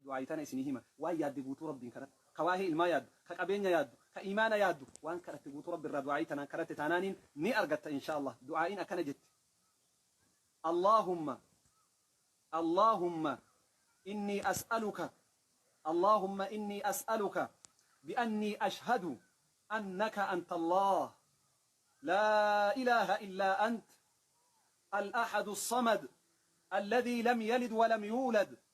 Du'aayi tana isinii hima, waan yaadde guutuu Rabbiin kadhadhu. Ka waahee ilmaa yaaddu, ka qabeenya yaaddu, ka iimaana yaaddu, waan kadhatte guutuu Rabbi irraa du'aa'ii tanaan kadhatte taanaaniin ni argatta inshaa Allaah. Du'aa'iin akkana jetti, Allaahumma, Allaahumma, innii as'aluka, Allaahumma innii as'aluka bi'annii ashhadu annaka anta Allaah, laa ilaaha illaa ant, al-ahadu as-samad, alladhii lam yalid wa lam yuulad,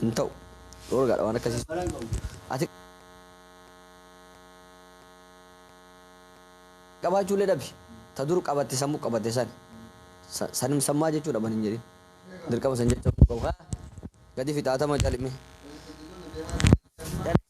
hin ta'u dhoorgaadha waan akkasii ati qabaachuullee dhabi ta dur qabatte sammuu qabatte san Sa- san sammaa jechuudha ban hin jedhin dirqama san jecha qabu haa gadi fixaatama calime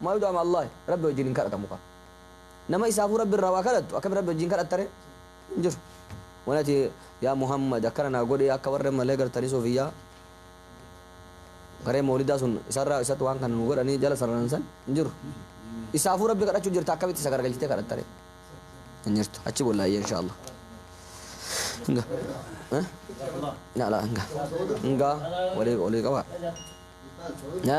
Maaltu ama Allahi Rabbi wajjin hin kadhatamu kaa. Nama isaafuu Rabbi irraa waa kadhattu akkamitti Rabbi wajjin kadhatta ree? Hin jiru. Waan ati yaa Muhammad akkana naa godhi akka warra malee gartanii suufiyyaa garee moolidaa sun isarraa isatti waan kana nu godhanii jala sararan san hin jiru. Isaafuu Rabbi kadhachuu jirta akkamitti isa garagalchitee kadhatta ree? Hin jirtu. Achi bolla ayya insha Allah. Nga. Eh? Nga la nga. Nga. Wali wali kawa. Ya.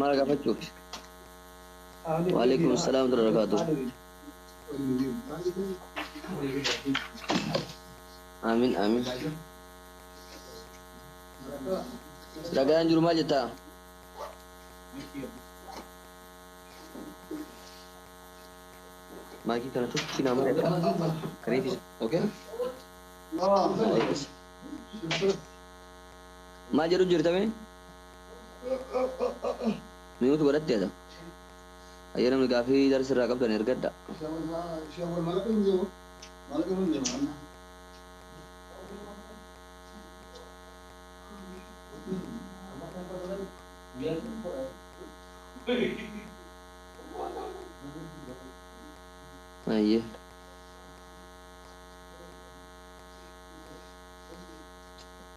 Maal gaafachuuf? Waaleykum salaam wa rahmatullahi wa barakaatuh. Aamiin aamiin. Ragaan jiru maal jettaa? Maakii kana tutti namaa jedhaa. Reefis. Okay. Maal jedhu jirtame? Mute godhatte ata. Hayyee namni gaaffii darsi irraa qabdan ergadha. Hayyee.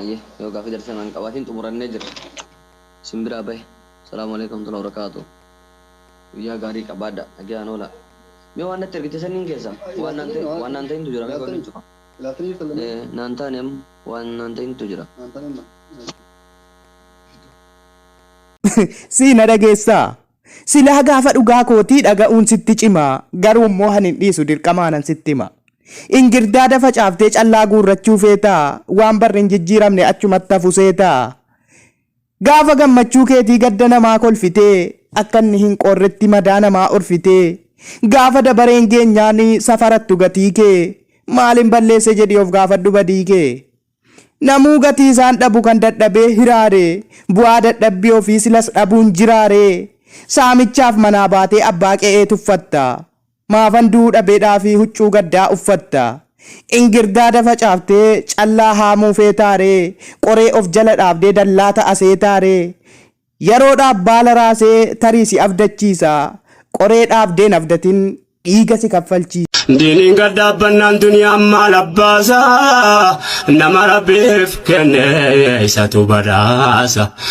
Ayyee yoo gaaffii darsisan hin qabaatiin xumurannee jirra. Isin biraa bahe. Salaamu alaikum warahmatullahi wabarakatuh. Guyyaa gaarii qabaadhaa. Nagaan oolaa. Mee waan natti ergite sanniin keessa waan naan ta'e- waan naan ta'intu jira mee goonni cufa. Eh, naan taane amma waan naan ta'intu jira. Sii na dhageessaa? Silaa gaafa dhugaa kootii dhaga'uun sitti cima garuu immoo han hin dhiisu dirqamaanan sitti hima. Ingirdaada facaaftee callaa guurrachuu feetaa? Waan barri hin jijjiiramne achumatti hafu seetaa? Gaafa gammachuu keetii gadda namaa kolfitee akka inni hin qoorretti madaa namaa orfitee gaafa dabareen geenyaan safarattu gatii kee maalin balleesse jedhii of gaafadhu badii kee. Namuu gatii isaan dhabu kan dadhabee hiraa ree? Bu'aa dadhabbii ofii silas dhabuun jiraa ree? Saamichaaf manaa baatee abbaa qe'ee tuffatta. Maafan du'uu dhabeedhaafii huccuu gaddaa uffatta. Ingirdaada facaaftee callaa haamuu feetaa ree? Qoree of jala dhaabdee dallaa ta'a seetaa ree? Yaroodhaaf baala raasee tarii si afdachiisa, qoree dhaabdee hin afdatin dhiiga si kaffalchiisa. Diiniin gad dhaabbannaan duniyaan maal abbaasa, nama Rabbiif kenne isatu badhaasa.